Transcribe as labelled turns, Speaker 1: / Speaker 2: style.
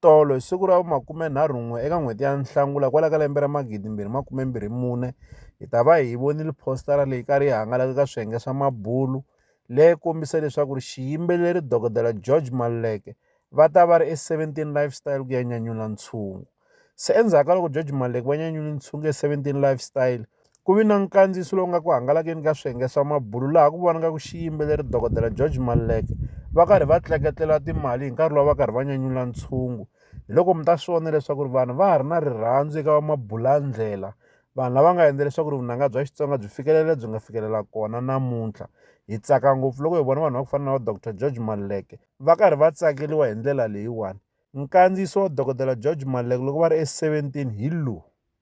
Speaker 1: Tolo, hi siku ra vu 21 eka n'hweti ya Nhlangula kwala ka lembe ra 2024, hi ta va hi vonile phositara leyi kari yi hangalake ka swiyenge swa mabulu leyi kombisa leswaku ri xiyimbeleri Dokodela George Maluleke va ta va ri e 17 Lifestyle ku ya nyanyula ntshungu. Se endzhaku ka loko George Maluleke va nyanyule ntshungu e 17 Lifestyle, Ku vi na nkandziyiso lowu nga ku hangalakeni ka swiyenge swa mabulu laha ku vonaka ku xiyimbeleri dokodela George Maluleke va karhi va tleketlela timali hi nkarhi lowu va karhi va nyanyula ntshungu hi loko mi ta swi vona leswaku ri vanhu va ha ri na rirhandzu eka vamabulandlela vanhu lava nga endla leswaku ri vunanga bya Xitsonga byi fikelela byi nga fikelela kona namuntlha hi tsaka ngopfu loko hi vona vanhu va ku fana na va Dr George Maluleke va karhi va tsakeliwa hi ndlela leyiwani nkandziyiso wa dokodela George Maluleke loko va ri e seventeen hi lowu.